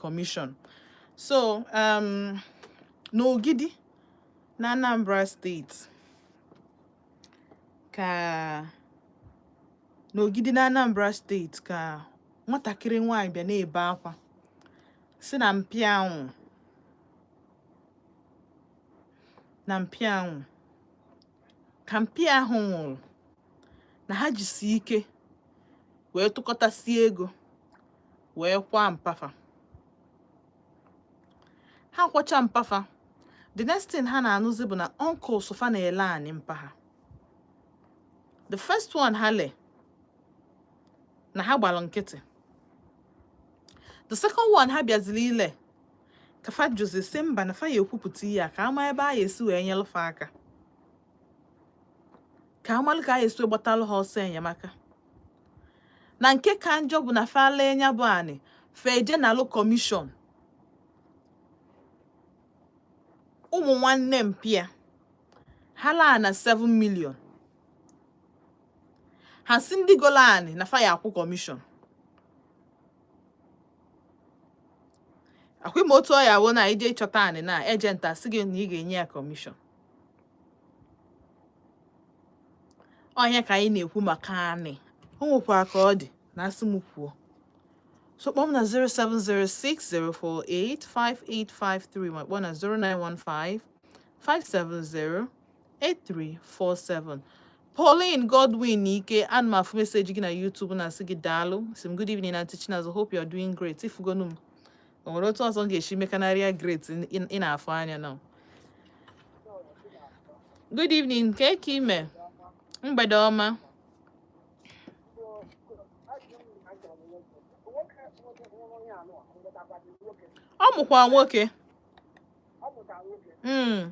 Commission so um, n'Ogidi na Anambra steeti ka n'Ogidi na Anambra steeti ka nwatakịrị nwanyị bịa na-ebe akwa sị na mpa ya nwụrụ na mpa ya nwụrụ ka mpa ya ahụ nwụrụ na ha jisi ike wee tụkọtasịa ego wee kwaa mpa fa ha kwacha mpa fa the next thing ha na-anụzi bụ na uncles fa na-ele anị mpa ha the first one ha le na ha gbara nkịtị the second one ha bịaziri ile ka fa jụzi sị mba na fa ya ekwupụta ihe a ka a ma ebe a ya esi wee nyelụ fa aka ka a malụ ka a ya esi gbatalụ ha ọsọ enyemaka na nke ka njọ bụ na fa lee nya bụ anị fa eje nalụ kọmishọn ụmụ nwanne mpa ya ha laa na 7 million ha sị ndị golo anị na fa ya akwụ kọmishọn akwa ị ma otu ọ ya awụ na ị je ịchọta anị na ejenti asị gị na ị ga-enye ya kọmishọn ọ nya ka anyị na-ekwu maka anị o nwekwara ka ọ dị na asị m kwuo so kpọọ m na 07060485853 ma kpọọ na 09155708347 Pauline Godwin Ike ana m afụ meseji gị na YouTube na-asị gị daalụ sị m good evening Aunty Chinazụ hope you are doing great ị fụgonụ m o nwere otu ọzọ m ga-esi mekanarịa great ị na-afụ anya now good evening kee ka ị me mgbede ọma ọ mụkwa nwoke hmm.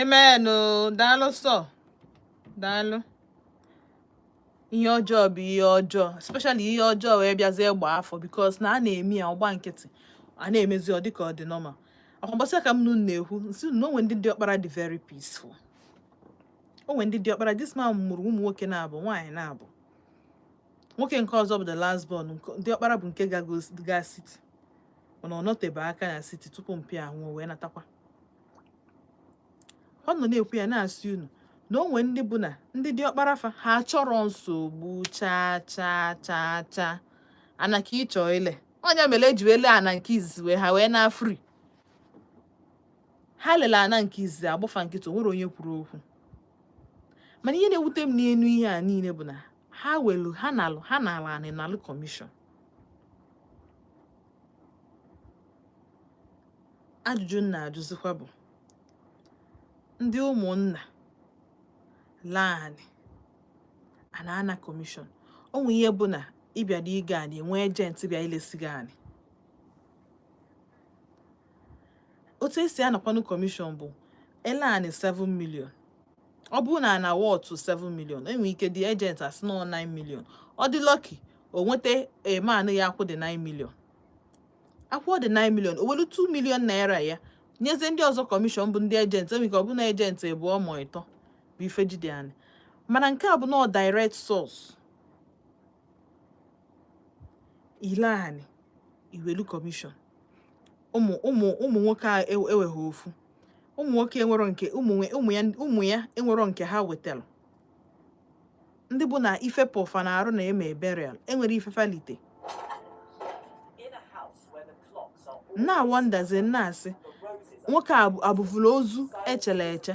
amen daalụ sọ daalụ ihe ọjọọ bụ ihe ọjọọ especially ihe ọjọọ wee bịazie gba afọ because na a na-eme ya a gba nkịtị a na-emezi ọ dịka ọ dị normal akwa mbọsị ka mụ na ụnụ na-ekwu m sị na o nwe ndị diọkpara dị very peaceful o nwe ndị diọkpara this man mụrụ ụmụ nwoke naabọ nwaanyị naabọ nwoke nke ọzọ bụ the last born diọkpara bụ nke ga siti mana ọ nọtebe aka na siti tupu mpa ya ahụ wee natakwa ọ nọ na-ekwu ya na-asị unu na onwe ndị bụ na ndị dị ọkpara fa ha chọrọ nsogbu chaa chaa chaa chaa ana ka ịchọ ile onye mere eji ele ana nke izizi wee ha wee na fri ha lele ana nke izizi agba fa nkịtị onwero onye kwuru okwu mana ihe na-ewute m n'enu ihe a niile bụ na ha welu ha na-alụ ha na-alụ anị nalụ kọmishọn ajụjụ m na-ajụzikwa bụ ndị ụmụnna lee anị a na-ana kọmishọn ọ nwe ihe bụ na ịbịadị ịgo anị enwe ejenti bịa ilesi gị anị otu esi anakwanụ kọmishọn bụ ele anị 7 million ọ bụrụ na ana wọtụ 7 million enwere ike dị ejenti asị na 9 million ọ dị lọki o nweta eman ya akwụ dị 9 million akwụ dị 9 million o welu 2 million naira ya nyezie ndị ọzọ kọmishọn bụ ndị ejenti enwere ike ọ bụrụ na ejenti ịbụọ mọ ịtọ bụ ife jide anị mana nke a bụ na direct source ile anị iwelu kọmishọn ụmụ ụmụ ụmụ nwoke a eweghị ofu ụmụ nwoke enwero nke ụmụ ya ụmụ ya enwero nke ha nwetara ndị bụ na ife pọ fa n'arụ na-eme burial enwero ife fa lite na-awondazi na-asị nwoke abụvụla ozu echele eche